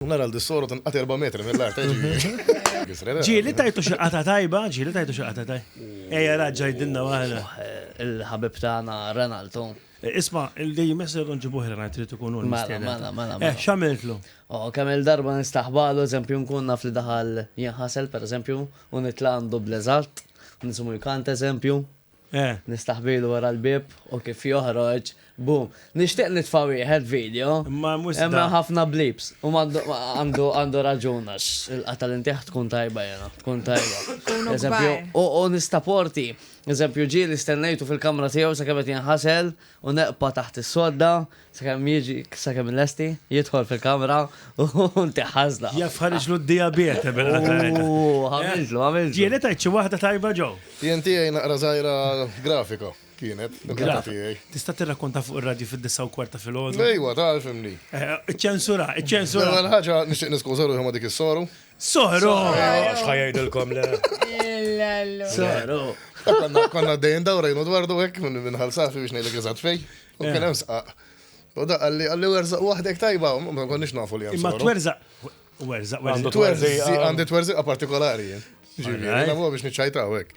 Nara l dissoro tinqat erba' metri mill-art, eh, ġifieri. Ġieli tajtu xi qata tajba, ġieli tajtu xi qata tajba. Ejja raġġa jdinna waħda. Il-ħabib tagħna Renaldo. Eh, isma, il-dej messer nġibuħ Renaldo trid ikun hu. Mela, mela, mela. Eh, mela. x'għamiltlu? Oh, kemm il-darba nistaħbalu, eżempju, nkun naf li daħal jinħasel, per eżempju, u nitla għandu bleżat, nisimu jkant eżempju, Nistaħbilu wara l-bieb u kif joħroġ, boom. Nixtieq nitfa' wieħed video, imma ħafna bleeps. U għandu raġun għax il-qatgħa li ntih tkun tajba jiena, tkun tajba. Eżempju, u nistaporti, eżempju ġieli stennejtu fil-kamra tiegħu sakemm qed jinħasel, u neqpa' taħt is-sodda sakemm jiġi sakemm il-lesti jidħol fil-kamra u ntiħ ħażla. Jaf ħariġlu d-dijabete bil-qagħda. Ooh, għamiltlu, għamiltlu. Kienet għid xi waħda tajba ġo. Jien tiegħi naqra żgħira grafika kienet. Tista' tirrakkonta fuq ir-radju fid-disa' u kwart ta' filgħodu? Ejwa, tagħrfimni. Iċċensura, iċċensura. L-ewwel ħaġa nixtieq niskuża ruħi ma' dik is-soru. Soħro! Għax ħajajdilkom le. Soħro! Konna dejjem dawrejnu dwar du hekk minn minħal safi biex ngħidlek eżatt fej. U kien hemm sqaq. U da għalli għalli werżaq waħdek tajba, ma konniex nafu li hemm. Imma twerżaq. Werżaq, werżaq. Għandi twerżiqa partikolari. Ġifieri, biex niċċajtaw hekk.